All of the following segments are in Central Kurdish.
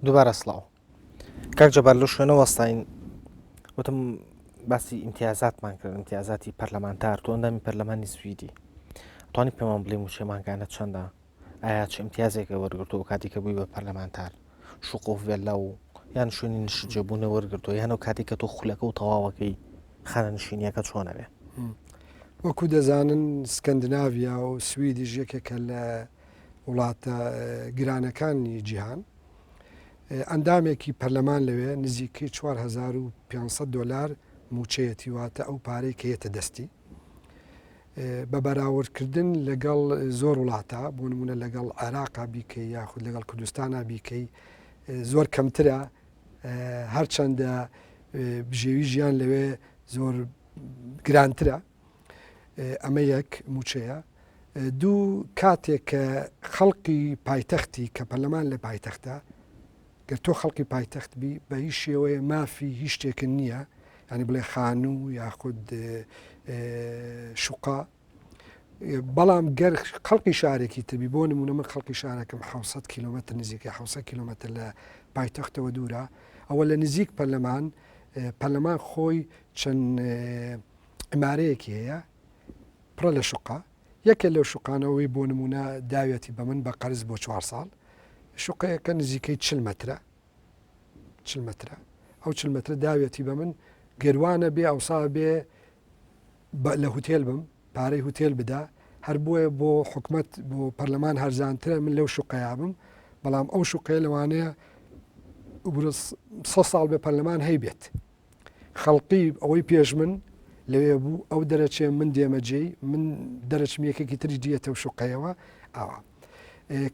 دووبارە سڵاو کاک جەبار لە شوێنە وەستین وتم باسی ئیمتیازاتمان کرد ئیمتیازاتی پەرلەمانتار تۆ ئەندامی پەرلەمانی سویدی توانی پێمان بڵێ موچێمانگانە چەندە ئایا چ ئیمتیازێکە وەرگرتو و کاتێکە بووی بە پەرلەمانتار شوقۆف ڤێلا و یان شوێنی نشجێبوونە وەرگرتو یانە و کاتێککە تۆ خولەکە و تەواوەکەی خانە نشینیەکە چۆنەوێ وەکو دەزانن سکەندناویا و سویدیش یەکێکە لە وڵاتە گرانەکانی جیهان ئەندامێکی پەرلەمان لەوێ نزیکەی 4500 دلار موچەیەتی واتە ئەو پارەی کە یەتە دەستی بە بەراوردکردن لەگەڵ زۆر وڵاتە بۆ نمونە لەگەڵ عێراقا بیکەی یاخود لەگەڵ کوردستانە بیکەی زۆر کەمترە هەرچەندە بژێوی ژیان لەوێ زۆر گرانترە ئەمە یەک موچەیە دوو کاتێک کە خەڵقی پایتەختی کە پەرلەمان لە پایتەختە گەر تۆ خەڵکی پایتەخت بی بە هیچ شێوەیە مافی هیچ شتێکن نییە ینی بڵێ خانوو یاخود شوقا بەڵام گەر خەڵکی شارێکی تبی بۆ نمونە من خەڵکی شارەکەم 600 کیلومتر نزیکە 600 کیلومتر لە پایتەختەوە دوورە ئەوە لە نزیک پەرلەمان پەرلەمان خۆی چەند عمارەیەکی هەیە پڕە لە شوقا یەکێ لەو شوقانەوەی بۆ نمونە داویەتی بە من بە قەرز بۆ چوار ساڵ شوقەیەکە نزیکەی چل مترە چل مترە ئەو چل مترە داویەتی بە من گەروانە بێ ئەوسا بێ لە هوتێل بم پارەی هوتێل بدا هەر بۆیە بۆ حکومت بۆ پەرلەمان هەرزانترە من لەو شوقەیە بم بەڵام ئەو شوقەیە لەوانەیە ساڵ بێ پەرلەمان هەیبێت خەڵقی ئەوەی پێش من لەوێ بوو ئەو دەرەچێ من دێمە جێی من دەرەچم یەکێکی تری دیەتە و شوقەیەوە ئاوا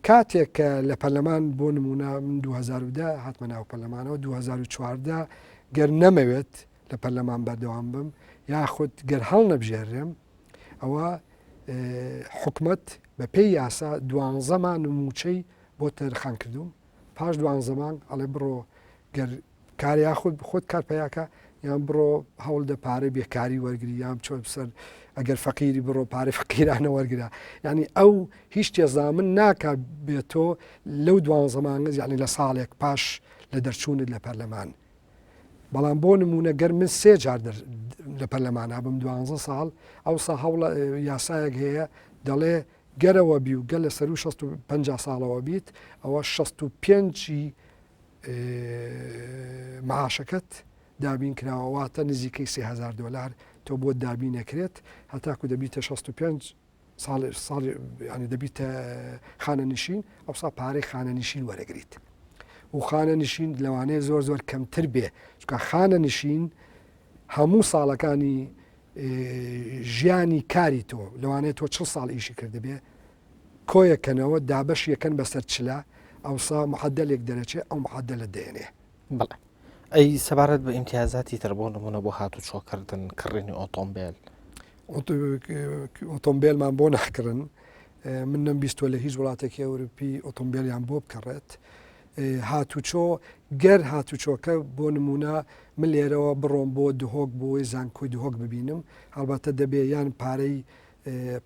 کاتێک کە لە پەرلەمان بۆ نمونە من 2010 هاتمە ناو پەرلەمانەوە 2014 گەر نەمەوێت لە پەرلەمان بەردەوام بم یاخود گەر هەڵ نەبژێرێم ئەوە حکومت بە پێی یاسا دوانزەمان و موچەی بۆ تەرخان کردوم پاش دوان زەمان ئەڵێ بڕۆ گەر کار یاخود خۆت کار پەیاکە یان بڕۆ هەوڵدە پارەی بێکاری وەرگری یان چۆن بسەر ئەگەر فەقیری بڕۆ پارەی فقیرانە وەرگرە یعنی ئەو هیچ تێزامن ناکە بێتۆ لەو دوان زمانگەز یعنی لە ساڵێک پاش لە دەرچوونت لە پەرلەمان بەڵام بۆ نمونە گەر من سێ جار لە پەرلەمانا بم دوانزە ساڵ ئەو سا هەوڵە یاسایەک هەیە دەڵێ گەرەوە بی و گەل لە سەر و 650 ساڵەوە بیت ئەوە 65 معاشەکەت دابین کراوە واتە نزیکەی سهزار دلار تۆ بۆ دابین نەکرێت هەتاکو دەبیتە 65 ساڵ ساڵ ینی دەبیتە خانە نشین ئەو سا پارەی خانە نشین وەرەگریت و خانە نشین لەوانەیە زۆر زۆر کەمتر بێ چکە خانە نشین هەموو ساڵەکانی ژیانی کاری تۆ لەوانێت تۆ چ ساڵ ئیشی کردبێ کۆیەکەنەوە دابەشی ئەکەن بەسەر چلە ئەوسا معەدەلێک دەرەچێ ئەو معەدەلە دێنێ. بەڵێ ئەی سەبارەت بە ئیمتیازاتی تر بۆ نمونە بۆ هاتوچۆ کردن کڕینی ئۆتۆمبێل ئۆتۆمبێلمان بۆ نەحکردن من نەم بیستوە لە هیچ وڵاتێکی ئەوروپی ئۆتۆمبیلیان بۆ بکەڕێت هاتوچۆ گەر هاتوچۆکە بۆ نمونە من لێرەوە بڕۆم بۆ دهۆک بۆی زانکۆی دهۆک ببینم هەڵبەتە دەبێ یان پارەی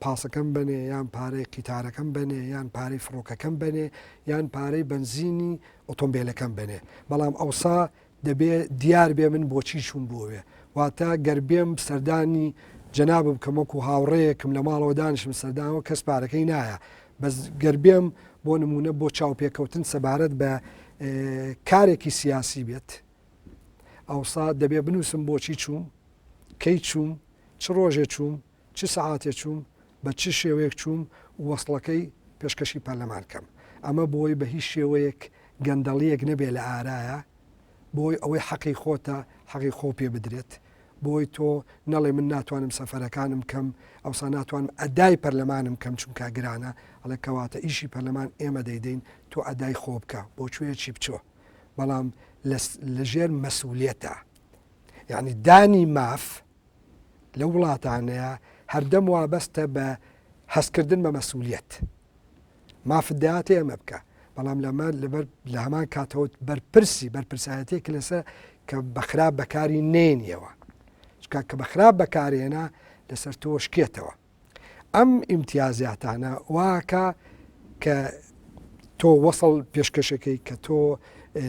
پاسەکەم بەنێ یان پارەی قیتارەکەم بەنێ یان پارەی فڕۆکەکەم بەنێ یان پارەی بەنزینی ئۆتۆمبیلەکەم بەنێ بەڵام ئەوسا دەبێ دیار بێ من بۆچی چوون بۆوێ واتە گەر بێم سەردانی جەناب بکەم وەکو هاوڕەیەکم لە ماڵەوە دانیشم سەردانەوە کەس پارەکەی نایە بەس گەر بێم بۆ نمونە بۆ چاوپێکەوتن سەبارەت بە کارێکی سیاسی بێت ئەوسا دەبێ بنووسم بۆچی چووم کەی چووم چ ڕۆژێ چووم چ سەعاتێ چووم، بە چ شێوەیەک چووم و وەسڵەکەی پێشکەشی پەرلەمان کەم. ئەمە بۆی بە هیچ شێوەیەک گەندەڵییەک نەبێ لە ئارایە، بۆی ئەوەی حەقی خۆتە حەقی خۆو پێ بدرێت، بۆی تۆ نەڵێ من ناتوانم سەفەرەکانم بکەم، ئەوسا ناتوانم ئەدای پەرلەمانم بکەم چونکا گرانە، ئەڵێ کەواتە ئیشی پەرلەمان ئێمە دەیدەین تۆ ئەدای خۆو بکە، بۆ کوێیەکی بچۆ. بەڵام لە لە ژێر مەسئولیەتە. یەعنی دانی ماف لەو وڵاتانەیە هەردەم وابەستە بە هەستکردن بە مەسولیت مافت دەاتێ ئەمە بکە بەڵام لەمە لەبەر لە هەمان کاتەوەت بەرپرسی بەرپرسایەتێک لەسەر کە بەخراپ بەکاری نێنیەوە چکە کە بەخراپ بەکارێنە لەسەر تۆشکێتەوە ئەم ئیمتیازاتانە واکا کە تۆ وەسڵ پێشکەشەکەی کە تۆ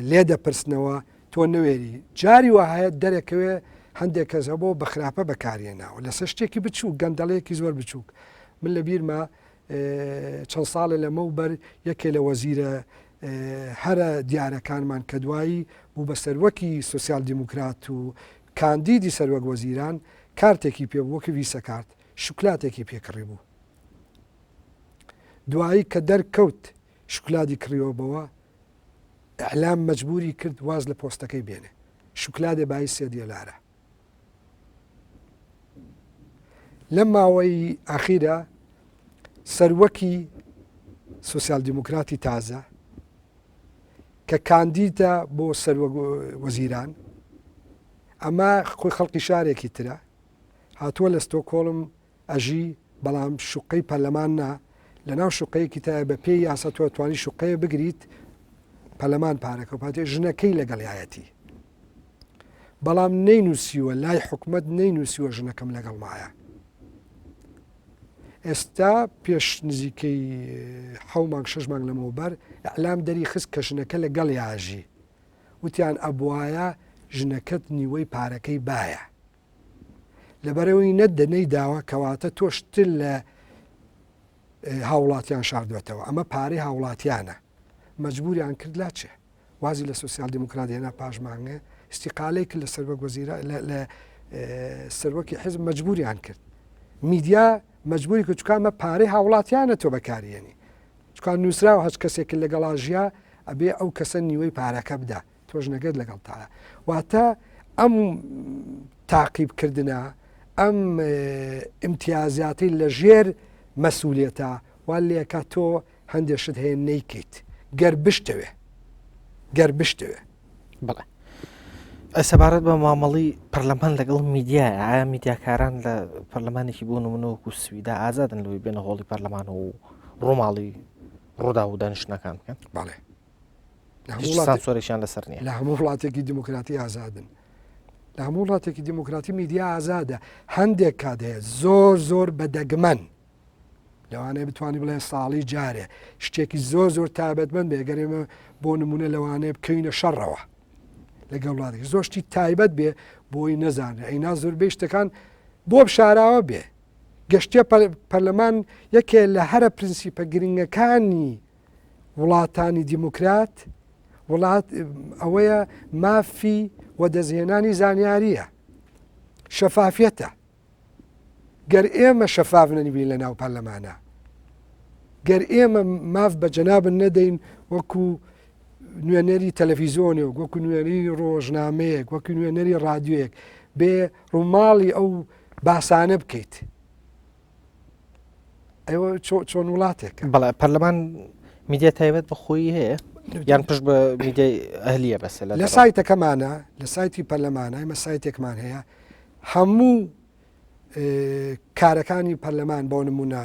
لێ دەپرسنەوە تۆ نوێری جاری وهەیە دەرەکەوێ هەندێک کەس هەبۆ بە خراپە بەکارێ ناوە لەسەر شتێکی بچوو گەندەڵەیەکی زۆر بچووک من لە بیرمە چەند ساڵە لەمە و بەر یەکێ لە وەزیرە هەرە دیارەکانمان کە دوایی بوو بە سەروەکی سوسیال دیموکرات و کاندیدی سەروەک وەزیران کارتێکی پێ بوو وەک ڤیسە کارت شوکلاتێکی پێ کڕی بوو دوایی کە دەر کەوت شوکلادی کڕیوە بەوە ئەعلام مەجبوری کرد واز لە پۆستەکەی بێنێ شوکلادێ بای سێ دیێلارە لەم ماوەی ئاخیرە سەروەکی سوسیال دیموکراتی تازە کە کاندیدە بۆ سەروەک وەزیران ئەمە خۆی خەڵکی شارێکی ترە هاتووە لە ستۆکۆڵم ئەژی بەڵام شوقەی پەرلەمان نا لە ناو شوقەیەکی تایە بە پێی یاسە تۆ توانی شوقەیە بگریت پەلەمان پارەکە پاتێ ژنەکەی لەگەڵایەتی بەڵام نەینووسیوە لای حکومەت نەینووسیوە ژنەکەم لەگەڵمایە ئێستا پێش نزیکەی حەو مانگ شش مانگ لەمەوبەر ئەلام دەری خست کە ژنەکە لە گەڵ یاژی وتیان ئەبواە ژنەکەت نیوەی پارەکەی باە لەبەرەوەی نەدەنەی داوە کەواتە تۆشتر لە هاوڵاتیان شاردوەتەوە ئەمە پارەی هاوڵاتیانە مەجبوریان کرد لا چێ وازی لە سوسیال دیموکرات هێنا پاشمانگە استیقالەی کرد لە سەرۆک وەزیرە لە سەرۆکی حزب مەجبوریان کرد میدیا مەجبوری کە چکامە پارەی هاوڵاتیانە تۆ بەکاریێنی چکان نووسراوە هەچ کەسێک لەگەڵا ژیا ئەبێ ئەو کەسە نیوەی پارەکە بدا تۆژنەگەت لەگەڵ تاە واتە ئەم تاقیب کردە ئەم ئیمتیازاتی لە ژێر مەسوولێتە وا لەکە تۆ هەندێشت هەیە نیکەیت گەر بشتەوێ گەر بشتەوێ بڵێ سەبارەت بە مامەڵی پەرلەمان لەگەڵ میدیایە ئایا میدیاکاران لە پەرلەمانێکی بوون و منەوەک و سویدا ئازادن لەوەی بێنە هۆڵی پەرلەمان و ڕۆماڵی ڕوودا و دانیشتنەکان بکەن باڵێ سانسۆرێکیان لەسەر نیە لە هەموو وڵاتێکی دیموکراتی ئازادن لە هەموو وڵاتێکی دیموکراتی میدیا ئازادە هەندێک کات هەیە زۆر زۆر بە دەگمەن لەوانەیە بتوانانی بڵێ ساڵی جارێ شتێکی زۆر زۆر تابەتمەند بێگەرێمە بۆ نمونە لەوانەیە بکەینە شەڕەوە لەگەڵ وڵاتی زۆشتی تایبەت بێ بۆی نەزانێ ئەینا زۆربەی شتەکان بۆ بشاراوە بێ گەشتە پەرلەمان یەکێ لە هەرە پرنسیپە گرنگەکانی وڵاتانی دیموکرات وڵات ئەوەیە مافی وەدەستهێنانی زانیاریە شەفافەتە گەر ئێمە شەفاف نەنیبین لە ناو پەرلەمانە گەر ئێمە ماف بە جەنابن نەدەین وەکو نوێنەری تەلەفیزۆنێک وەکو نوێنەری ڕۆژنامەیەک وەکو نوێنەری ڕادیوەک بێ ڕووماڵی ئەو باسانە بکەیت ئەوە چۆن وڵاتێک بەڵێ پەرلەمان میدیا تایبەت بە خۆی هەیە یان پشت بە میدیای ئەهلیە بەس لە سایتەکەمانە لە سایتی پەرلەمانای مە سایتێکمان هەیە هەموو کارەکانی پەرلەمان بۆ نمونە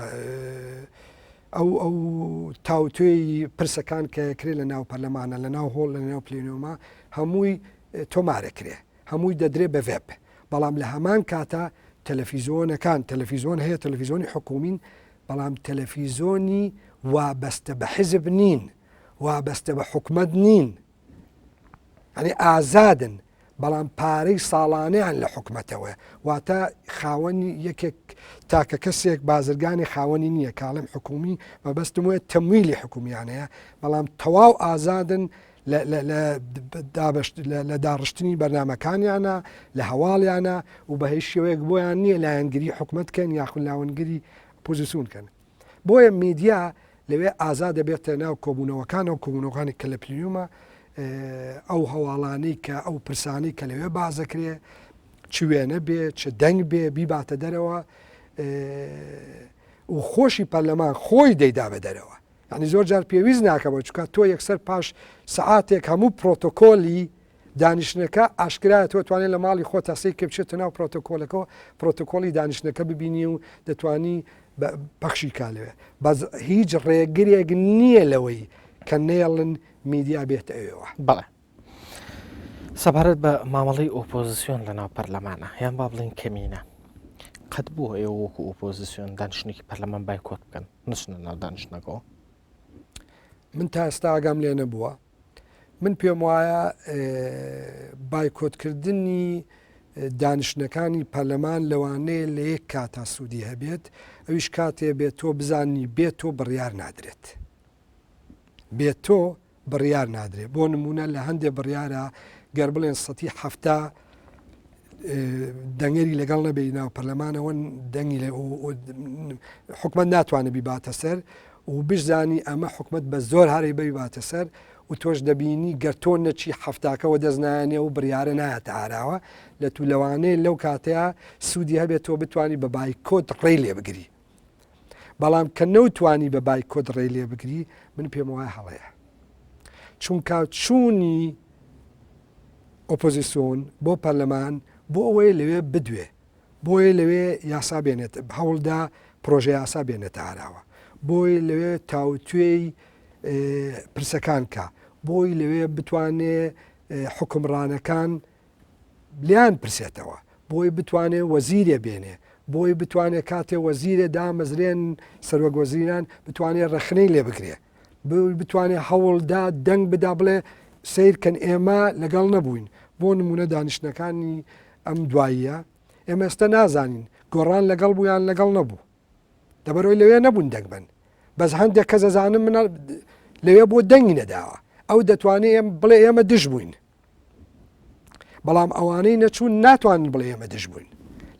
ئەو ئەو تاوتێی پرسەکان کە کرێ لە ناو پەرلەمانە لە ناو هۆڵ لە ناو پلینۆما هەمووی تۆمارەکرێ هەمووی دەدرێ بە ڤێپ بەڵام لە هەمان کاتا تەلەفیزۆنەکان تەلەفیزۆن هەیە تەلەفیزۆنی حکوومین بەڵام تەلەفیزۆنی وابەستە بە حیزب نین وابەستە بە حکومت نین ئەنی ئازادن بەڵام پارەی ساڵانیان لە حکومەتەوە واتە خاوەنی یەکێک تاکە کەسێک بازرگانی خاوەنی نییە کاڵم حکومی مەبەستم وە تەمویلی حکومیانەیە بەڵام تەواو ئازادن لە داڕشتنی بەرنامەکانیانە، لە هەواڵیانە و بە هیچ شێوەیەک بۆیان نییە لایەنگری حکومەت کەن یاخود لاونگری ئۆپۆزیسون کەن. بۆیە میدیا لەوێ ئازا دەبێتە ناو کۆبوونەوەکانەوە، کۆبوونەوەکانی کە لە پلیومە ئەو هەواڵانەی کە ئەو پرسانەی کە لەوێ باس دەکرێ چ وێنە بێ چ دەنگ بێ بیباتە دەرەوە و خۆشی پەرلەمان خۆی دەیدا بە دەرەوە. یانی زۆر جار پێویست ناکەمەوە چکە تۆ یەکسەر پاش سعاتێک هەموو پرۆتۆکۆلی دانیشتنەکە ئاشکرایە تۆ توانێت لە ماڵی خۆ تاسەی کە بچێتە ناو پرۆتۆکۆلەکەەوە پرۆتۆکۆلی دانیشتنەکە ببینی و دەتانی پەخشی کا لەوێ بەس هیچ ڕێگرێک نییە لەوەی کە نێڵن میدیا بێت ئەوێەوە بەڵێ سەبارەت بە مامەڵەی ئۆپۆزسیۆن لە ناو پەرلەمانە یان با بڵین کەمینە قەت بووە ئێوە وەکو ئۆپۆزسیۆن دانیشتێکی پەرلەمان بایکۆت بکەن نچنە ناو دانیشتنەکەەوە من تا ئێستا ئاگام لێ نەبووە من پێم وایە بایکۆتکردنی دانیشتەکانی پەرلەمان لەوانەیە لە یەک کاتا سوودی هەبێت ئەویش کاتێ بێت تۆ بزانی بێت تۆ بڕیار نادرێت بێت تۆ بڕیار نادرێت بۆ نمونە لە هەندێک بڕیارە گەر بڵێن سەتی هەفتا دەنگەری لەگەڵ نەبێ ناو پەرلەمانەوە دەنگی لە حکومت ناتوانێت بیباتە سەر و بشزانی ئەمە حکومت بە زۆر هەری بباتە سەر و تۆش دەبینی گەرتۆ نەچی هەفتاکەەوە دەستنایانێ و بڕیاە نایەتە ئاراوە لە تو لەوانەیە لەو کاتەیە سوودی هەبێت تۆ بتانی بە بایکۆت ڕێ لێ بگری بەڵام کە نەوتوانی بە بایکۆت ڕێ لێ بگری من پێم وایە هەڵەیە چونکە چوونی ئۆپۆزیسۆن بۆ پەرلەمان بۆ ئەوەیە لەوێ بدوێ بۆیە لەوێ یاسا بێنێت هەوڵدا پرۆژە یاسا بێنێتە ئاراوە بۆی لەوێ تاوتێی پرسەکان کە بۆی لەوێ بتوانێ حکمڕانەکان لیان پرسێتەوە بۆی بتوانێ وەزیرێ بێنێ بۆی بتوانێت کاتێ وەزیرێ دامەزرێن سەرۆک وەزیران بتوانێت ڕەخنەی لێ بگرێ بتوانێت هەوڵدا دەنگ بدا بڵێ سیرکەن ئێمە لەگەڵ نەبووین بۆ نمونە دانیشتنەکانی ئەم دواییە ئێمە ئێستا نازانین گۆڕان لەگەڵ بوویان لەگەڵ نەبوو دەبەرەوەی لەوێ نەبوون دەنگبن بەس هەندێک کە زەزانم منە لەوێ بۆ دەنگی نەداوە ئەو دەتوانێت بڵێ ئێمە دژ بووین بەڵام ئەوانەی نەچوون ناتوانن بڵێ ئێمە دژ بووین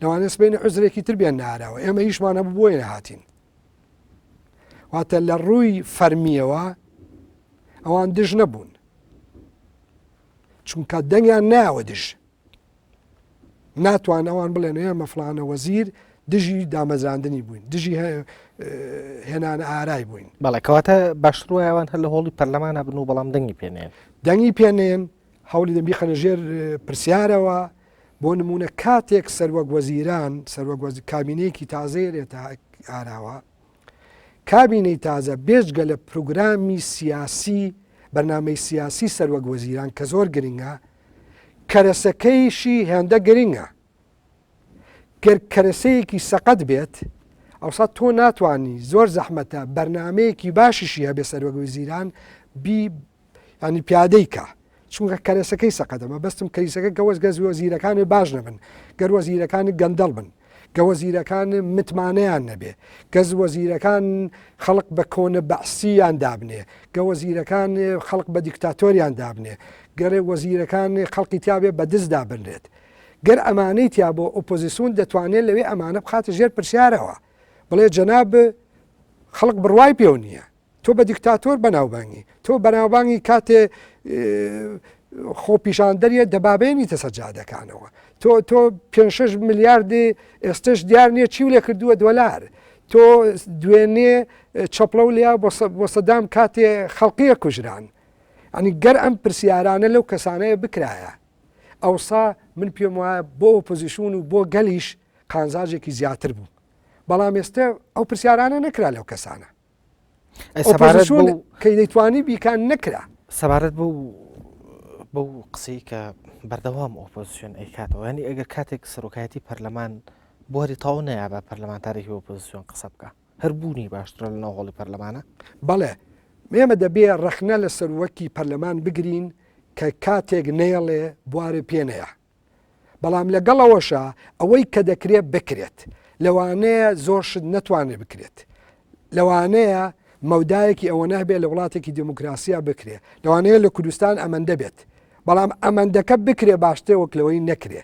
لەوانە سبینە عزرێکی تربیان ناراوە ئێمە هیچمان هەبوو بۆیە نەهاتین واتە لە ڕووی فەرمیەوە ئەوان دژ نەبوون چونکە دەنگیان ناوە دژ ناتوان ئەوان بڵێن ئێمە فلانە وەزیر دژی دامەزراندنی بووین دژی هێنان ئارای بووین بەڵێکەواتە باشتروایەوان هەر لە هۆڵی پەرلەمانە بن و بەڵام دەنگی پێنێن دەنگی پێنێن هەولی دەبی خەنە ژێر پرسیارەوە بۆ نمونە کاتێک سەروەک وەزیران سەروەک کابینەیەکی تازەیەێتە ئاراوە کابینەی تازە بێجگە لە پروگرامی سیاسی بەرنامەی سیاسی سەروەک وەزیران کە زۆر گرنگە، کەرەسەکەیشی هێندە گرنگە. گەر کەرەسەیەکی سەقەت بێت، ئەوسا تۆ ناتوانی زۆر زەحمەتە بەرنامەیەکی باشیشی هەبێ سەروەک وەزیران بی یانی پیادەی کا چونکە کەرەسەکەی سەقەدە مەبەستم کەیسەکە گە وەزگە زیۆزیرەکان باش نەبن گەر وەزیرەکان گەندەڵ بن گە وەزیرەکان متمانەیان نەبێ گەز وەزیرەکان خەڵق بە کۆنە بەعسییان دابنێ گە وەزیرەکان خەڵق بە دیکتاتۆریان دابنێ گەرێ وەزیرەکان خەڵقی تیاابێ بە دز دابنرێت گەر ئەمانەی تیا بۆ ئۆپۆزیسیون دەتوانێت لەوێ ئەمانە بخاتە ژێر پرسیارەوە بڵێ جەناب خەڵک بڕوای پێو نییە تۆ بە دیکتاتۆر بەناوبانگی تۆ بەناوبانگی کاتێ خۆپیشاندەریە دەبابێنی تەسە جادەکانەوە تۆ تۆ 5 میلیاردی ئێستش دیار نییە چی لێ کردووە دۆلار تۆ دوێنێ چەپڵە و لیا بۆ سەدام کاتێ خەڵقیە کوژران ئەنی گەر ئەم پرسیارانە لەو کەسانەیە بکرایە ئەوسا من پێم وایە بۆ پۆزیشون و بۆ گەلیش قانزاجێکی زیاتر بوو بەڵام ئێستا ئەو پرسیارانە نەکرا لەو کەسانە کەی دەیتوانی بیکان نەکرا سەبارەت بۆ بەو قسەی کە بەردەوام ئۆپۆزیسیۆن ئەیکاتەوە ینی ئەگەر کاتێک سەرۆکایەتی پەرلەمان بۆری تاو نەیە بە پەرلەمانتارێکی ئۆپۆزیسیۆن قسە بکە هەر بوونی باشترە لە ناوهۆڵی پەرلەمانە بەڵێ مێمە دەبێ ڕەخنە لە سەروەکی پەرلەمان بگرین کە کاتێک نەیەڵێ بوارێ پێنەیە بەڵام لەگەڵ ئەوەشا ئەوەی کە دەکرێت بکرێت لەوانەیە زۆر شت نەتوانێت بکرێت لەوانەیە مەودایەکی ئەوە نەبێت لە وڵاتێکی دموکراسیا بکرێت لەوانەیە لە کوردستان ئەمەندە بێت بەڵام ئەمەندەکە بکرێ باشترێ وەک لەوەی نەکرێ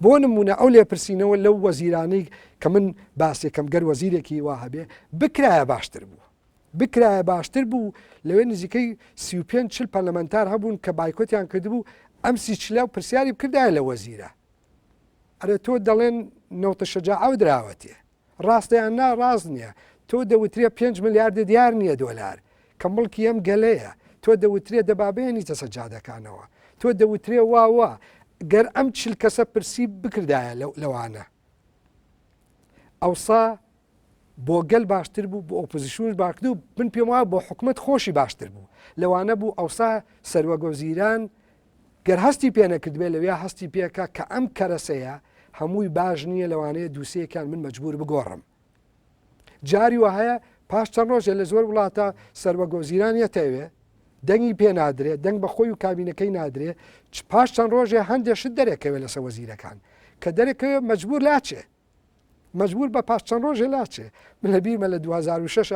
بۆ نمونە ئەو لێپرسینەوە لەو وەزیرانی کە من باسێکەم گەر وەزیرێکی وا هەبێ بکرایە باشتر بوو بکرایە باشتر بوو، لەوێ نزیکەی سی و پێنج چل پەرلەمەنتار هەبوون کە بایکۆتیان کردبوو، ئەم سی چلە و پرسیاری بکردایە لە وەزیرە ئەرێ تۆ دەڵێن نەوتە شەجاعەوە دراوەتێ ڕاستە یان نا ڕاست نییە تۆ دەوترێ پێنج ملیاردە دیار نییە دۆلار کە مڵکی ئەم گەلەیە تۆ دەوترێ دەبابێنیتە سەجادەکانەوە تۆ دەوترێ واوە گەر ئەم چل کەسە پرسی بکردایە لەوانە ئەوسا بۆ گەل باشتر بوو بۆ ئۆپۆزیسیونش باکدوو من پێم وایە بۆ حکومت خۆشی باشتر بوو لەوانە بوو ئەوسا سەروەگۆزیران گەر هەستی پێ نەکردبێ لەوێ هەستی پێکە کە ئەم کەرەسەیە هەمووی باش نییە لەوانەیە دووسەیەکان من مەجبور بگۆڕم جاری وە هەیە پاش چەند ڕۆژێ لە زۆر وڵاتە سەروەگۆزیرانە تەوێ دەنگی پێ نادرێ دەنگ بە خۆی و کابینەکەی نادرێ پاش چەند ڕۆژێ هەندێک شت دەرێکەوێت لەسە وەزیرەکان کە دەرەکەوێت مەجبور لاچێ مەجبور بە پاش چەند ڕۆژێ لاچێ من لە بیرمە لە 2006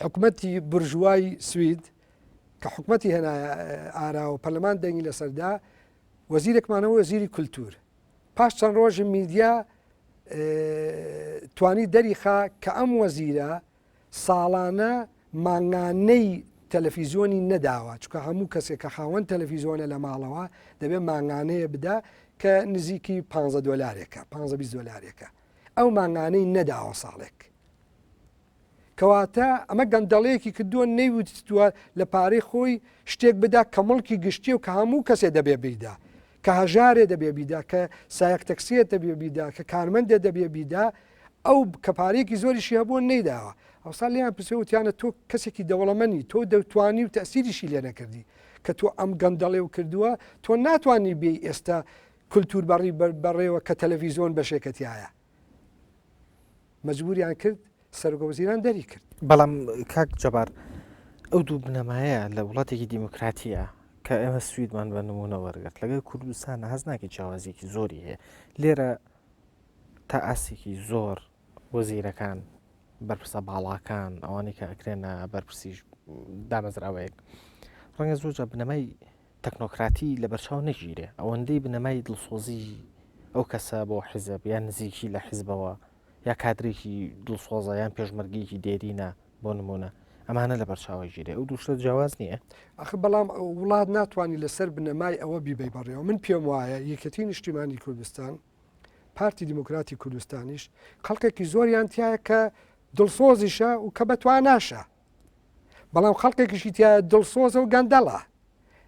حکومەتی برژوای سوید کە حکومەتی هێنا ئارا و پەرلەمان دەنگی لەسەردا وەزیرێکمانەوە وەزیری کولتور پاش چەند ڕۆژی میدیا توانی دەریخا کە ئەم وەزیرە ساڵانە مانگانەی تەلەفیزیۆنی نەداوە چکە هەموو کەسێک کە خاوەن تەلەفیزیۆنە لە ماڵەوە دەبێت مانگانەیە بدا کە نزیکی 15 دلارێکە 15 دلارێکە ئەو مانگانەی نەداوە ساڵێک کەواتە ئەمە گەندەڵەیەکی کردووە نەیوتوە لە پارەی خۆی شتێک بدا کە مڵکی گشتی و کە هەموو کەسێ دەبێ بیدا کە هەژارێ دەبێ بیدا کە سایەک تەکسیە دەبێ بیدا کە کارمەندێ دەبێ بیدا ئەو کە پارەیەکی زۆریشی هەبووە نەیداوە ئەوسا لێیان پرسێ وتیانە تۆ کەسێکی دەوڵەمەنی تۆ دەتوانی و تەسیریشی لێ نەکردی کە تۆ ئەم گەندەڵێ و کردووە تۆ ناتوانانی بێ ئێستا کللتور بەڕی بەڕێوە کە تەلەڤیزۆن بەشێکەتیایە مەجبوریان کرد سەرگە وزیران دەری کرد بەڵام کاک جەبار ئەو دوو بنەمایە لە وڵاتێکی دیموکراتیە کە ئێمە سویدمان بە نمونە وەرگرت لەگەر کوردستان هەز ناکە چاوازێکی زۆری هەیە لێرە تا ئاستێکی زۆر وەزیرەکان، بەرپرسە باڵاکان، ئەوانەی کە ئەکرێنە بەرپرسیش دامەزراوەیەک ڕەنگە زۆرجە بنەمای تەکنۆکراتی لە بەرچاو نەگیرێ ئەوەندەی بنەمای دڵسۆزی ئەو کەسە بۆ حیزب یان نزیکی لە حیزبەوە یا کادرێکی دڵسۆزە یان پێشمەرگێکی دێرینە بۆ نمونە ئەمانە لە بەرچاوی ژیری ئەو دوو شتە جیاواز نییە؟ ئەخ بەڵام وڵات ناتوانانی لەسەر بنەمای ئەوە بیبەی بەڕێوە من پێم وایە یەکەتی نیشتیمانی کوردستان پارتی دیموکراتی کوردستانیش خەڵکێکی زۆریان تایە کە دڵسۆزیشە و کە بەتواناشە بەڵام خەڵکێکیشی تایە دڵسۆزە و گەندەڵە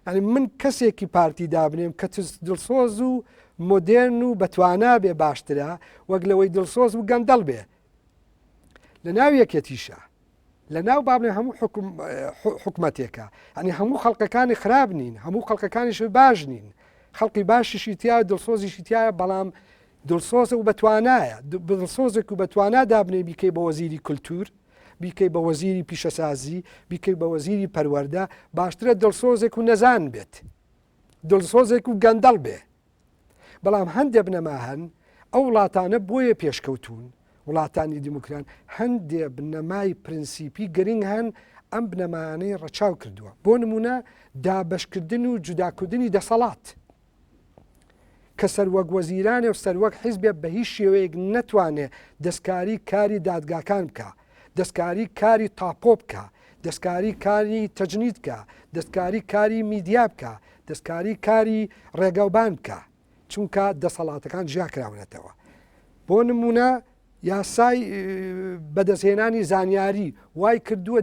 ئەنی من کەسێکی پارتی دابنێم کە دڵسۆز و مدێرن و بەتوانا بێ باشترە وەک لەوەی دڵسۆز و گەندەڵ بێ لەناو یەکێتیشە لەناو با بڵێ هەموو حکومەتێکە ئەنی هەموو خەڵقەکانی خراب نین هەموو خەڵقەکانیش باش نین خەڵقی باشیشی تیا دڵسۆزیشی تایە بەڵام دڵسۆزە و بەتوانایە دڵسۆزێک و بەتوانا دابنێ بیکەی بە وەزیری کولتور بیکەی بە وەزیری پیشەسازی بیکەی بە وەزیری پەروەەردە باشترە دڵسۆزێک و نەزان بێت دڵسۆزێک و گەندەڵ بێ بەڵام هەندێ بنەما هەن ئەو وڵاتانە بۆیە پێشکەوتون وڵاتانی دیموکران هەندێ بنەمای پرنسیپی گرنگ هەن ئەم بنەمانەی ڕەچاو کردووە بۆ نمونە دابشکردن و جوداکردنی دەسەڵات کە سەروەک وەزیرانێ و سەروەک حیزبێ بە هیچ شێوەیەک نەتوانێ دەستکاری کاری دادگاکان بکە دەستکاری کاری تاپۆ بکە، دەستکاری کاری تەجنید بکە، دەستکاری کاری میدیا بکە، دەستکاری کاری ڕێگاوبان بکە، چونکە دەسەڵاتەکان جیا کراونەتەوە. بۆ نموونە یاسای بەدەستهێنانی زانیاری وای کردووە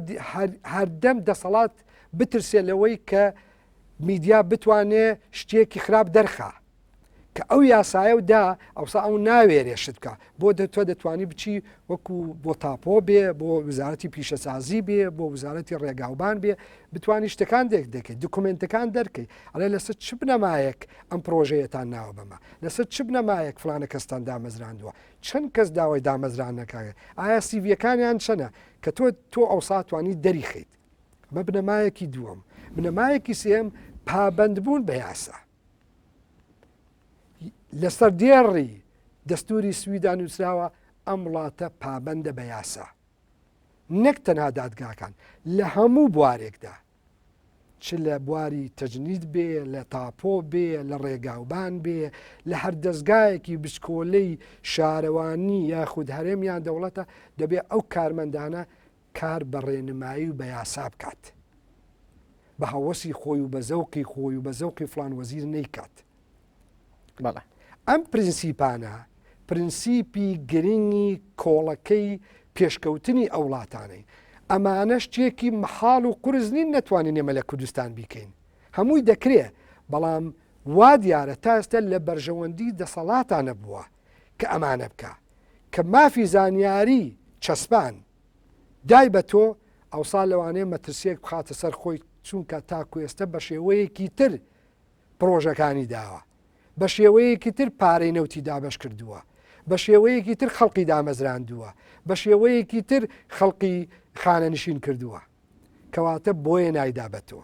هەردەم دەسەڵات بترسێ لەوەی کە میدیا بتوانێ شتێکی خراپ دەرخە. کە ئەو یاسایە و دا ئەوسا ئەو ناوێرێ شت بکە بۆ دە تۆ دەتوانی بچی وەکو بۆ تاپۆ بێ بۆ وزارەتی پیشەسازی بێ بۆ وزارەتی ڕێگاوبان بێ بتانی شتەکان دێک دەکەیت دکمنتەکان دەرکەی ئەڵێ لەسەر چ بنەمایەک ئەم پرۆژەیەتان ناوە بەمە لەسەر چ بنەمایەک فلانە کەستان دامەزراندووە چەند کەس داوای دامەزرانەکانێت ئایا سیڤەکانیان چەنە کە تۆ تۆ ئەو ساتوانی دەریخیت بە بنەمایەکی دووەم بنەمایەکی سێم پابندبوون بە یاسا لەسەر دێڕی دەستوری سویدا نووسراوە ئەم وڵاتە پابندە بە یاسا نەک تەنها دادگاکان لە هەموو بوارێکدا چ لە بواری تەجنید بێ لە تاپۆ بێ لە ڕێگاوبان بێ لە هەر دەستگایەکی بچکۆلەی شارەوانی یاخود هەرێم یان دەوڵەتە دەبێ ئەو کارمەندانە کار بە ڕێنمایی و بە یاسا بکات، بە هەوەسی خۆی و بە زەوقی خۆی و بە زەوقی فڵان وەزیر نەیکات. بەڵێ. ئەم پرنسیپانە پرنسیپی گرنگی کۆڵەکەی پێشکەوتنی ئەو وڵاتانەین. ئەمانە شتێکی مەحاڵ و قورس نین نەتوانین ئێمە لە کوردستان بیکەین. هەمووی دەکرێ، بەڵام وا دیارە تا ئێستا لە بەرژەوەندی دەسەڵاتا نەبووە. کە ئەمانە بکە کە مافی زانیاری چەسپان دای بە تۆ ئەوسا لەوانەیە مەترسیەک بخاتە سەر خۆی چونکە تاکوێستە بە شێوەیەکی تر پرۆژەکانی داوە بە شێوەیەکی تر پارەی نەوتی دابش کردووە بە شێوەیەکی تر خەڵقی دامەزراندووە بە شێوەیەکی تر خەڵقی خانەنشین کردووە کەواتە بۆیە نایدا بە تۆ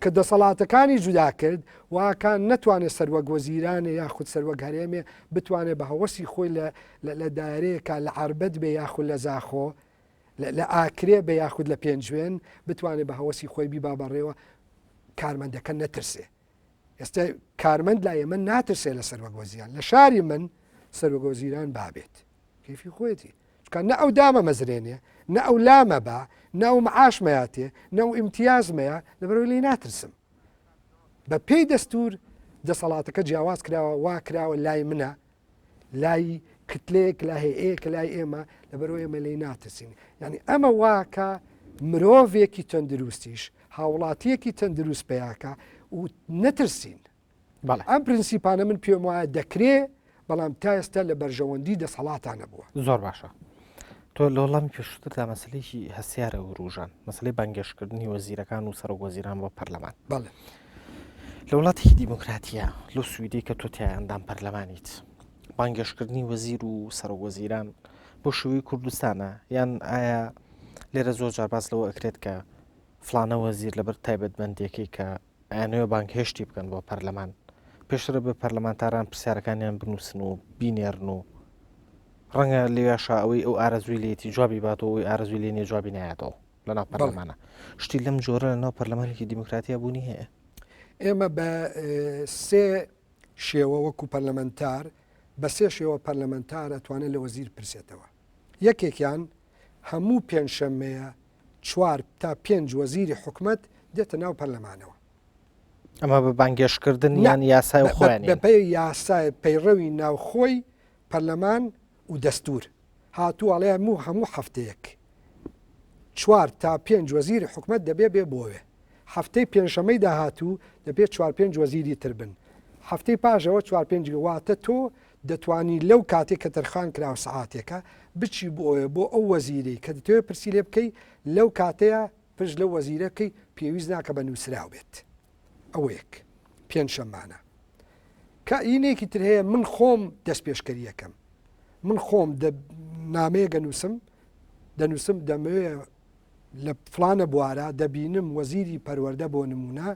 کە دەسەڵاتەکانی جودا کرد و ئاکان نەتوانێ سەروەک وەزیرانێ یاخود سەروەک هەرێمێ بتوانێ بە هەوەسی خۆی لە لە دایرەیەکا لە عەربەت بێ یاخود لە زاخۆ لە ئاکرێ بێ یاخود لە پێنجوێن بتوانێ بە هەوەسی خۆی بیبا بەڕێوە کارمەندەکە نەترسێ ئێستا کارمەند لا ئێمە ناترسێ لە سەروەگۆزیان لە شاری من سەروگۆزیران بابێت کەیفی خۆیەتی چکە نە ئەو دامە مەزرێنێ نە ئەو لامە بە نە ئەو معاشمەیاتێ نە و ئیمتیازمەیە لەبەرەوەی لی ناترسم بە پێی دەستور دەسەڵاتەکە جیاواز کراوە وا کراوە لای منە لای کتلێک لا هەیە کە لای ئێمە لەبەرەوە ئێمە لی ناترسین یعنی ئەمە واکە مرۆڤێکی تەندروستیش هاوڵاتیەکی تەندروست پیاکە و نەترسین بەڵێ ئەم پرنسیپانە من پێم وایە دەکرێ بەڵام تا ئێستا لە بەرژەوەندی دەسەڵاتان نەبووە زۆر باشە تۆ لە وڵامی پێشتردا مەسلێکی هەسیارە وروژان مەسلەی بەنگێشکردنی وەزیرەکان و سەرۆک وەزیران بۆ پەرلەمان بەڵێ لە وڵاتێکی دیموکراتیە لەو سویدی کە تۆ تیاندام پەرلەمانیت بانگێشکردنی وەزیر و سەرۆک وەزیران بۆ شووی کوردستانە یان ئایا لێرە زۆر جار باس لەوە ئەکرێت کە فلانە وەزیر لەبەر تایبەتمەندێکی کە ئەیانەوێت بانگهێشتی بکەن بۆ پەرلەمان پێشتر بە پەرلەمانتاران پرسیارەکانیان بنووسن و بینێرن و ڕەنگە لێشا ئەوەی ئەو ئارەزوی لێتی جوابی باتەوە ئەوی ئارزوی لێنێ جوابی نایەتەوە لە ناو پەرلەمانە شتی لەم جۆرە لە ناو پەرلەمانێکی دیموکراتیا بوونی هەیە ئێمە بە سێ شێوە وەکو پەرلەمەنتار بە سێ شێوە پەرلەمەنتار ئەتوانێت لە وەزیر پرسێتەوە یەکێکیان هەموو پێنجشەممەیە چوار تا پێنج وەزیری حکومەت دێتە ناو پەرلەمانەوە. ئەمە بە بانگێشتکردن یان یاسای خۆیان بەپێ یاسای پەیڕەوی ناوخۆی پەرلەمان و دەستور هاتوواڵێ هەموو هەموو هەفتەیەک چوار تا پێنج وەزیری حکومت دەبێ بێ بۆێ هەفتەی پێنجشەمەی داهاتوو دەبێت چوار پێنج وەزیری تر بن هەفتەی پاژەوە چوار پێنج واتە تۆ دەتوانی لەو کاتەی کە تەرخان کراوە سەعاتێکە بچی بۆ بۆ ئەو وەزیرەی کە دەتەوێت پرسی لێ بکەی لەو کاتەیە پرس لەو وەزیرە بکەی پێویست ناکە بە نووسراو بێت ئەوە یەک پێنجشەمانە کە ئینێکی تر هەیە من خۆم دەست پێشکەریەکەم من خۆم نامەیە گەنووسم دەنووسم دەمەوێ لە فڵانە بوارە دەبینم وەزیری پەروەردە بۆ نموونە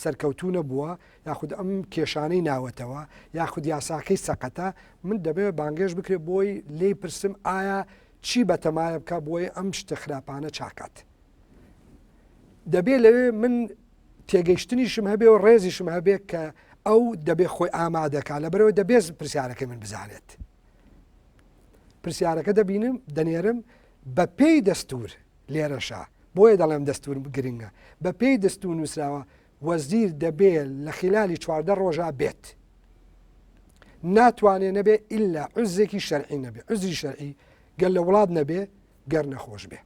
سەرکەوتوو نەبووە یاخود ئەم کێشانەی ناوەتەوە یاخود یاساکەی سەقەتە من دەبێت بانگێش بکرێت بۆی لی پرسم ئایا چی بەتەمایە بکە بۆی ئەم شتە خراپانە چاکات دەبێت لەوێ من تێگەیشتنیشم هەبێ و ڕێزیشم هەبێت کە ئەو دەبێت خۆی ئامادەکە لە بەرەوە دەبێت پرسیارەکە من بزانێت پرسیارەکە دەبینم دەنێرم بە پێی دەستور لێرەشە بۆیە دەڵێم دەستور گرنگە بە پێی دەستور نووسراوە وەزیر دەبێت لە خلالی چواردە ڕۆژە بێت ناتوانێت نەبێ ئللا عزێکی شەرعی نەبێ عزری شەرعی گەل لە وڵات نەبێ گەر نەخۆش بێ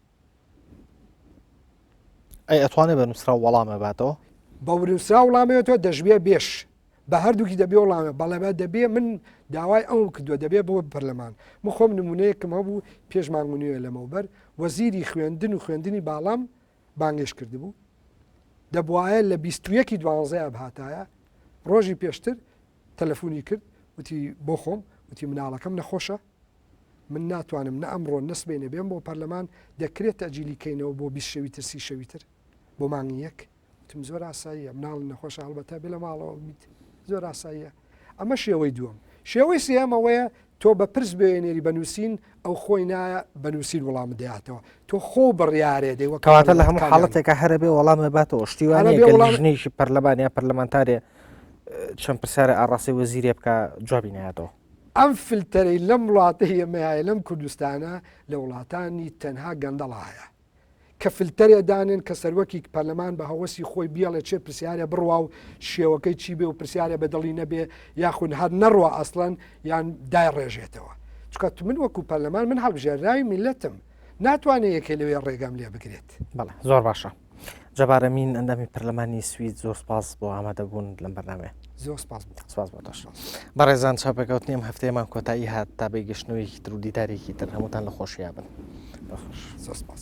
ئەی ئەتوانێ بە نووسرا وەڵامە باتەوە بە ورنووسرا وڵامێتەوە دەژبێ بێش بە هەردووکی دەبێ وڵامە بەڵێبە دەبێ من داوای ئەو کردووە دەبێ بۆ پەرلەمان مخۆم نمونەیەکم هەبوو پێشمان منوێ لەمەوبەر وەزیری خوێندن و خوێندنی باڵام بانگێش کردبوو دەبواە لە 21 دوانزەیە بهاتایە ڕۆژی پێشتر تەلەفۆنی کرد وتی بۆ خۆم وتی مناڵەکەم نەخۆشە من ناتوانم نە ئەمڕۆ نە سبەینێ بێم بۆ پەرلەمان دەکرێت تەجیلی کەینەوە بۆ بیست شەوی تر سی شەوی تر بۆ مانگی یەک وتم زۆر ئاساییە مناڵ نەخۆش هەڵبەتە بێ لە ماڵەوە بیت زۆر ئاساییە ئەمە شێوەی دووەم شێوەی سێمەوەیە تۆ بە پرس بێنێری بە نووسین ئەو خۆی نایە بە نووسین وڵام دەاتەوە تۆ خۆ بڕیارێ دەی وەکەواتە لە هەموو حاڵەتێکە هەرە بێ وەڵامە باتەوە شتیوانێژنیشی پەرلەمانیا پەرلەمانتارێ چەند پرسیارە ئاڕاستی وەزیرێ بکە جوابی ناتەوە ئەم فلتەرەی لەم وڵاتەی ئێمە هەیە لەم کوردستانە لە وڵاتانی تەنها گەندەڵا هەیە کە فلتەرێ دانێن کە سەروەکی پەرلەمان بە هەوەسی خۆی بیاڵێ چێ پرسیارە بڕوا و شێوەکەی چی بێ و پرسیارە بە دڵی نەبێ یاخود هەر نەڕوە ئەسڵەن یان دای ڕێژێتەوە چکە من وەکو پەرلەمان من هەڵبژێراوی میلەتم ناتوانێت یەکێ لەوێ ڕێگەم لێ بگرێت بەڵێ زۆر باشە جەبار ئەمین ئەندامی پەرلەمانی سوید زۆر سپاس بۆ ئامادەبوون لەم بەرنامێ زۆر سپاس سپاس بۆ دەش بەڕێزان چاپێکوت نیم هەفتەیەمان کۆتایی هات تا بەی گەشتنەوەیکی تر و دیدارێکی تر هەمووتان لە خۆشییا بن بەخش زۆر سپاس.